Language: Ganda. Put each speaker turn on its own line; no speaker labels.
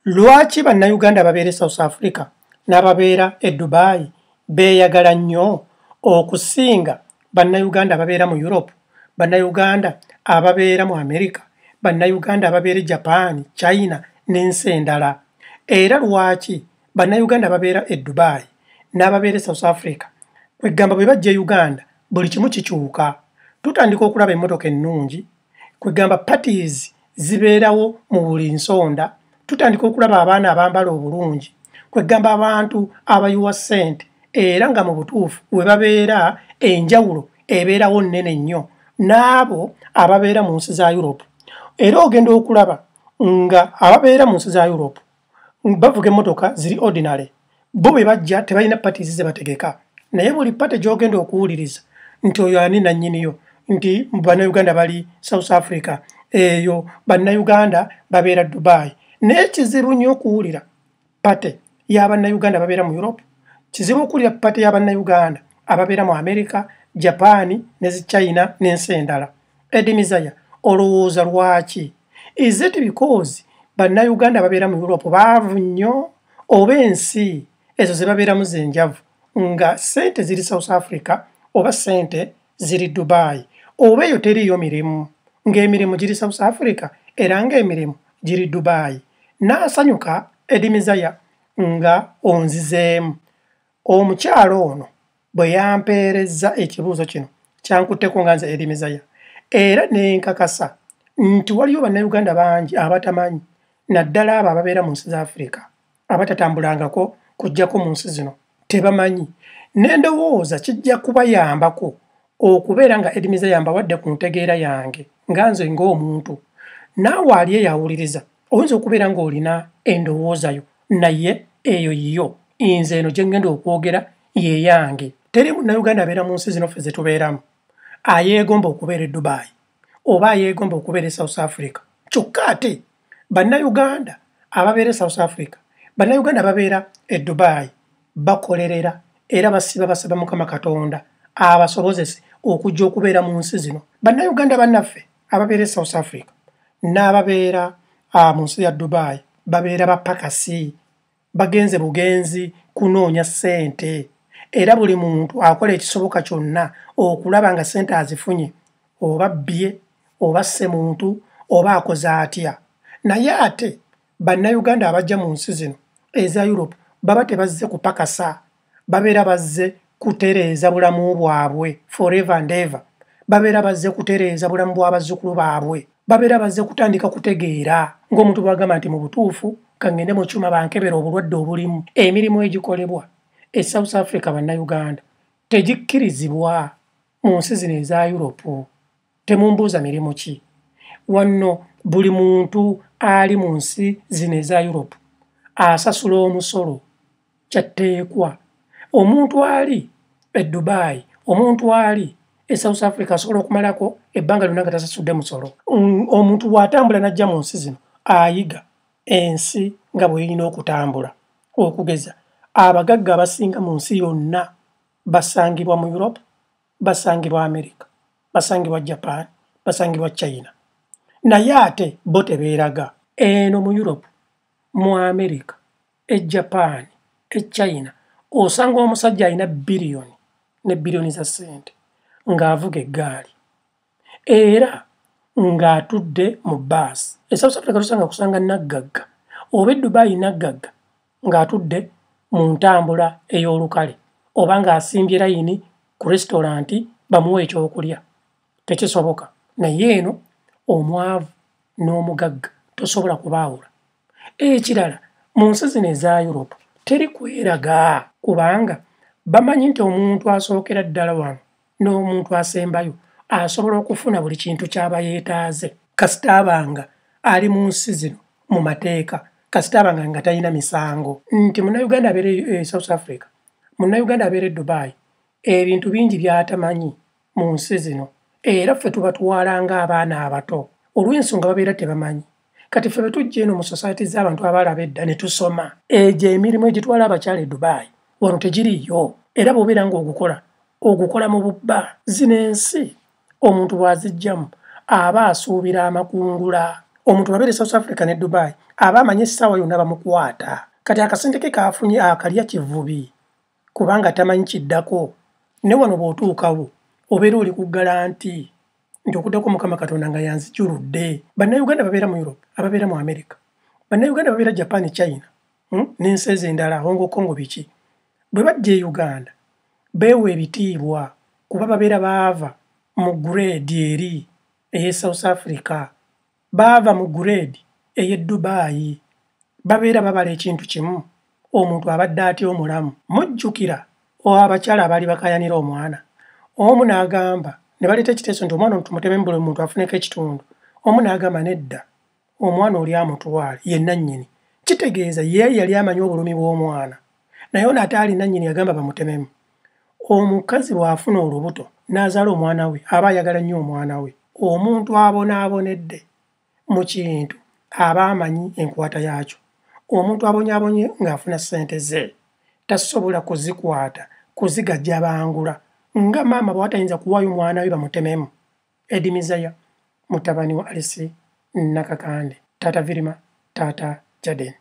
Lwaki bannayuganda ababeera e South Africa n'ababeera e Dubai beeyagala nnyo okusinga bannayuganda ababeera mu Europe, bannayuganda ababeera mu Amerika, bannayuganda ababeera e Japan, China n'ensi endala? Era lwaki bannayuganda ababeera e Dubai n'ababeera e South Africa kwegamba bwe bajja e Uganda buli kimu kikyuka? Tutandika okulaba emmotoka ennungi, kwegamba parties zibeerawo mu buli nsonda tutandika okulaba abaana abambala obulungi kwegamba abantu abayiwa ssente era nga mu butuufu we babeera enjawulo ebeerawo nnene nnyo n'abo ababeera mu nsi za europe era ogenda okulaba nga ababeera mu nsi za europe bavuga emmotoka ziri ordinary bo bwe bajja tebalina patis ze bategeka naye buli pate gy'ogenda okuwuliriza nti oyo ani nannyiniyo nti bannayuganda bali south africa eyo bannayuganda babeera dubai naye kizibu nnyo okuwulira pate y'abannayuganda babeera mu europe kizibu okuwulira pate y'abannayuganda ababeera mu america japaani ne zi china n'ensi endala Eddie Mizaya, olowooza lwaki? Is it because bannayuganda babeera mu Europe baavu nnyo oba ensi ezo ze babeeramu z'enjavu nga ssente ziri South Africa oba ssente ziri Dubai oba eyo teriiyo mirimu ng'emirimu giri South Africa era ng'emirimu giri Dubai. N'asanyuka Eddie Mizaya nga onzizeemu. Omukyala ono bwe yampeerezza ekibuuzo kino kyankutteko nga nze Erimezaya era ne nkakasa nti waliyo Bannayuganda bangi abatamanyi naddala abo ababeera mu nsi za Afirika abatatambulangako kujjako mu nsi zino tebamanyi ne ndowooza kijja kubayambako okubeera nga Erimezaya mbawadde ku ntegeera yange nga nze ng'omuntu naawe ali eyawuliriza oyinza okubeera ng'olina endowooza yo naye eyo yiyo nze eno gye ŋŋenda okwogera ye yange teri munnayuganda abeera mu nsi zino ffe ze tubeeramu ayeegomba okubeera e dubaayi oba ayeegomba okubeera e south africa kyokka ate bannayuganda ababeera e south africa bannayuganda ababeera e dubaayi bakolerera era basiba basaba mukama katonda abasobozese okujja okubeera mu nsi zino bannayuganda bannaffe ababeera e south africa n'ababeera ah, mu nsi ya dubai babeera bapakasi bagenze bugenzi kunoonya ssente era buli muntu akola ekisoboka kyonna okulaba nga ssente azifunye oba bbye oba ssemuntu oba akoze atya naye ate bannayuganda abajja mu nsi zino eza europe baba tebazze kupakasa babeera bazze kutereeza bulamu bwabwe forever and ever babeera bazze kutereeza bulamu bw'abazzukulu baabwe babeera bazze kutandika kutegeera ng'omuntu bwagamba nti mu butuufu kangende mu kyuma bankebera obulwadde obulimu emirimu egikolebwa e south africa bannayuganda tegikkirizibwa mu nsi zino eza europe Temumbuuza mirimu ki wanno buli muntu ali mu nsi zino eza Europe asasula omusolo kyatteekwa omuntu ali e Dubai omuntu ali e South Africa asobola okumalako ebbanga lyonna nga tasasudde musolo mm, omuntu bw'atambula n'ajja mu nsi zino ayiga ensi nga bweyina okutambula okugeza abagagga abasinga mu nsi yonna basangibwa mu europe basangibwa america basangibwa japan basangibwa china naye ate bo tebeeraga eno mu europe mu america e japan e china osanga omusajja alina biliyoni ne biliyoni za ssente ng'avuga eggaali era ng'atudde mu baasi esouth africa tusanga kusanga naggagga oba eddubayi naggagga ng'atudde mu ntambula ey'olukale oba ng'asimbye layini ku resitolanti bamuwe ekyokulya. Tekisoboka. Naye eno omwavu n'omugagga tosobola kubaawula. Ekirala mu nsi zino eza Europe teri kweraga kubanga bamanyi nti omuntu asookera ddala wano n'omuntu asembayo asobola okufuna buli kintu ky'aba yeetaaze kasita abanga ali mu nsi zino mu mateeka kasita abanga nga talina misango nti munnayuganda abeere e south africa munnayuganda abeere e dubai ebintu bingi by'atamanyi mu nsi zino era ffe tubatwala ng'abaana abato olw'ensonga babeera tebamanyi kati ffe bwetujja eno mu society z'abantu abaalaba edda ne tusoma egyo emirimu egitwala abakyala e dubaayi wano tegiriiyo era bw'obeera ng'ogukola ogukola mu bubba zino ensi omuntu bw'azijjamu aba asuubira amakungula omuntu bwabeera e south africa ne dubaayi aba amanyi essaawa yonna bamukwata kati akasente ke kaafunye akalya kivubi kubanga tamanyi kiddako ne wano bw'otuukawo obeera oli ku galanti nti okuddako mukama katonda nga yanzijuludde bannayuganda babeera mu europe ababeera mu america bannayuganda babeera japan china hmm, n'ensi ezo endala hongo congo biki bwe bajja e uganda beewa ebitiibwa kuba babeera baava mu gureedi eri ey'e south africa Baava mu grade eye Dubai. Babeera babala ekintu kimu omuntu abadde atya omulamu. Mujjukira o abakyala abaali bakayanira omwana. Omu nagamba nebaleta ekiteeso nti omwana ono tumutememu buli muntu afuneko ekitundu. Omu nagamba nedda omwana oli amutwale ye nannyini. Kitegeeza ye yali amanyi obulumi bwomwana naye ono ate ali nannyini yagamba bamutememu. omukazi bw'afuna olubuto n'azaala omwana we aba ayagala nnyo omwana we omuntu abonaabonedde mu kintu aba amanyi enkwata yaakyo omuntu abonyaabonye ng'afuna ssente ze tasobola kuzikwata kuzigajja bangula nga maama bw'atayinza kuwaayo omwana we bamutememu edimizaya mutabani wa alisi nakakande taata virima taata jaden